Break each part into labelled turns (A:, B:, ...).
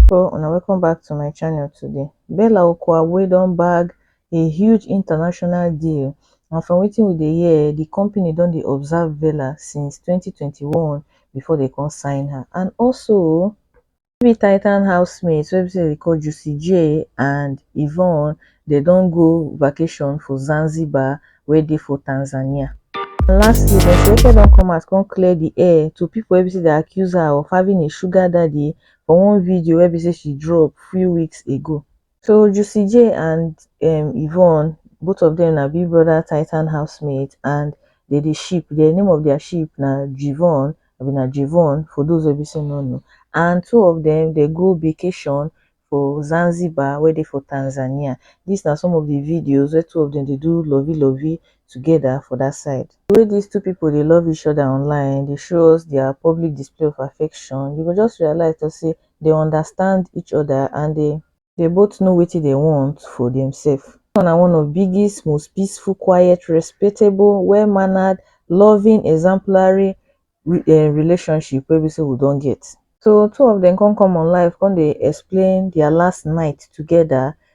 A: people and welcome back to my channel today bella okwuagbue don bag a huge international deal and from wetin we dey hear the company don dey observe bella since 2021 before they come sign her and also no be titan housemates wey be say dem dey call jussy jay and yvonne dem don go vacation for zanzibar wey dey for tanzania and lastly dem say oke don come out come clear di air to pipo wey be say dem accuse her of having a sugar daddy for one video wey be say she drop few weeks ago. so juicy j and um yvonne both of dem na big brother tytan housemates and dey dey ship dia name of dia ship na jivon abi na jivon for those wey be sey no know and two of dem dey go vacation for Zanzibar wey dey for Tanzania dis na some of the videos wey two of dem dey do lovey lovey together for that side the way dis two people dey love each other online dey show us dia public display of affection you go just realize to sey dey understand each other and dey dey both know wetin dey want for dem self. Dis one na one of biggest most peaceful quiet respectable well mannered loving exemplary um relationship wey be sey we don get. So two of dem come come on live come dey explain their last night together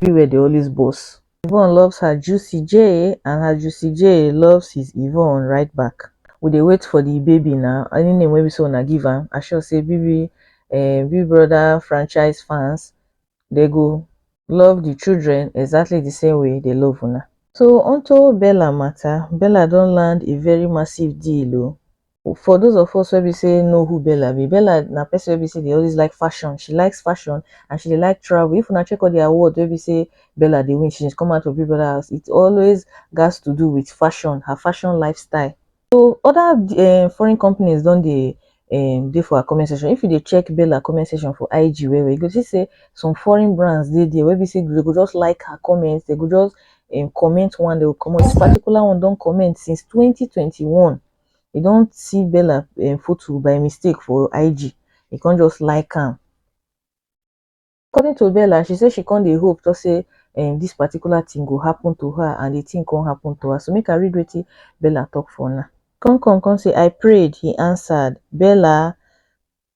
A: everywhere dey always burst. Yvonne loves her juicy J and her juicy J loves his Yvonne right back. We dey wait for the baby na any name wey be say una give am I sure say BB eh, Big Brother franchise fans they go love the children exactly the same way they love una. So onto Bella matter, Bella don land a very massive deal o. for those of us wey be say know who Bella be, Bella na person wey be say dey always like fashion. She likes fashion and she dey like travel. If una check all the award wey be say Bella dey win since she come out for Big Brother house, it always gats to do with fashion, her fashion lifestyle. So other um foreign companies don dey um dey for her comment section. If you dey check Bella comment section for IG well well, you go see say some foreign brands dey there wey be say they go just like her comment, they go just um comment one, they go comot. This particular one don comment since twenty twenty one. e don see bella um photo by mistake for IG e come just like am according to bella she say she come dey hope talk say um this particular thing go happen to her and the thing come happen to her so make I read wetin bella talk for una come come come say I prayed he answered bella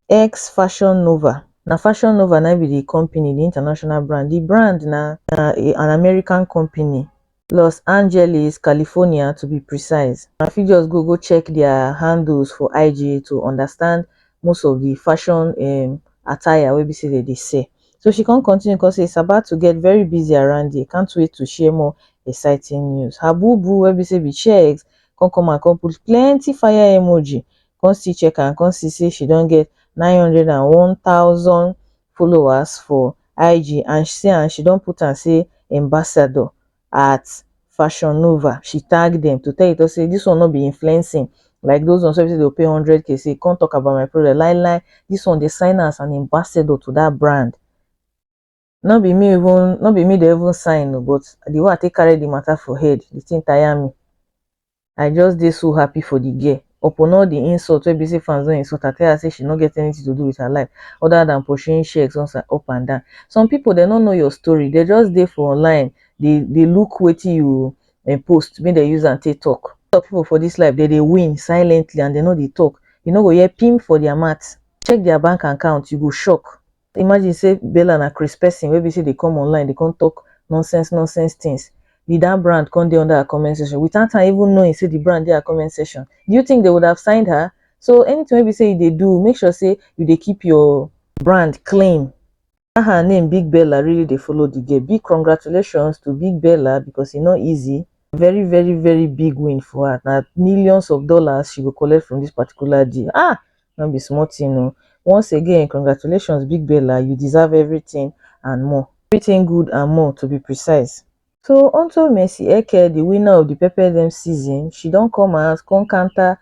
A: X Fashion Nova na Fashion Nova na im be the company, the international brand. The brand na na a- an American company, Los Angeles, California to be precise. Una fit just go go check their handles for IG to understand most of the fashion um attire wey be say dem dey sell. So she come continue come say it's about to get very busy around here, can't wait to share more exciting news. Her boo boo wey be say be Chegz come come out come put plenty fire emoji come still check am come see say she don get nine hundred and one thousand followers for IG and see am she don put am say ambassador at Fashion Nova she tag them to tell you to say this one no be influencing like those ones wey be say dey go pay hundred k say come talk about my product lie lie this one dey sign am as an ambassador to that brand no be me even no be me dey even sign o but the way i take carry the matter for head the thing tire me i just dey so happy for the girl upon all the insult wey be say fans don insult her tell her say she no get anything to do with her life other than pursuing sheiks once and up and down some people dem no know your story they just dey for online dey dey look wetin you eh, post make dem use am take talk some people for this life dem dey win silently and dem no dey talk you no go hear pim for their mouth check their bank account you go shock Imagine sey Bella na craze person wey be sey dey come online dey come talk nonsense nonsense things, did that brand come dey under her comment section without her even knowing sey the brand dey her comment section? Do you think they would have signed her? So anything wey be sey you dey do, make sure sey you dey keep your brand clean. That her name Big Bella really dey follow the girl. Big congratulations to Big Bella because e no easy. Very very very big win for her. Na millions of dollars she go collect from this particular deal. Ah! No be small thing oh. Once again congratulations big bella you deserve everything and more. Everything good and more to be precise. So onto Mercy Eke the winner of the Pepper Dem season, she don come out come counter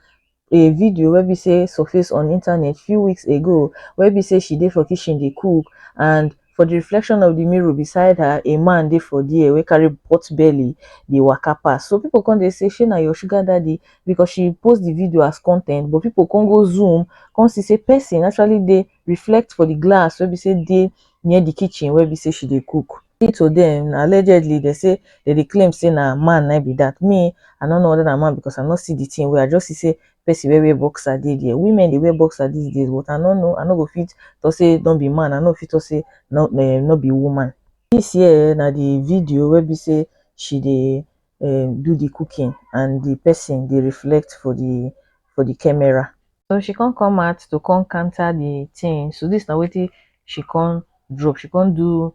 A: a video wey be say surface on internet few weeks ago wey be say she dey for kitchen dey cook and For di reflection of di mirror beside her, a man dey for there wey carry pot belly dey waka pass. So people come dey say shey na your sugar daddy because she post di video as con ten t but people come go zoom come see say person actually dey reflect for di glass wey be say dey near di kitchen wey be say she dey cook. According to dem, allegedly dem say dem dey claim say na man na im be dat. Me, I no know whether na man because I no see di thing well, I just see say person wey wear boxer dey there women dey wear boxer these days but i no know i no go fit talk say no be man i no fit talk say no um no be woman this here na the video wey be say she dey um do the cooking and the person dey reflect for the for the camera so she come come out to come counter the thing so this na wetin she come drop she come do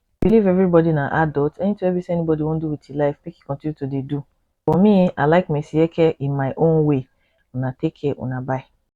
A: I believe everybody na adult, anything wey be say anybody wan do with his life make he continue to dey do. For me, I like Messieke in my own way. Una take care, una bye.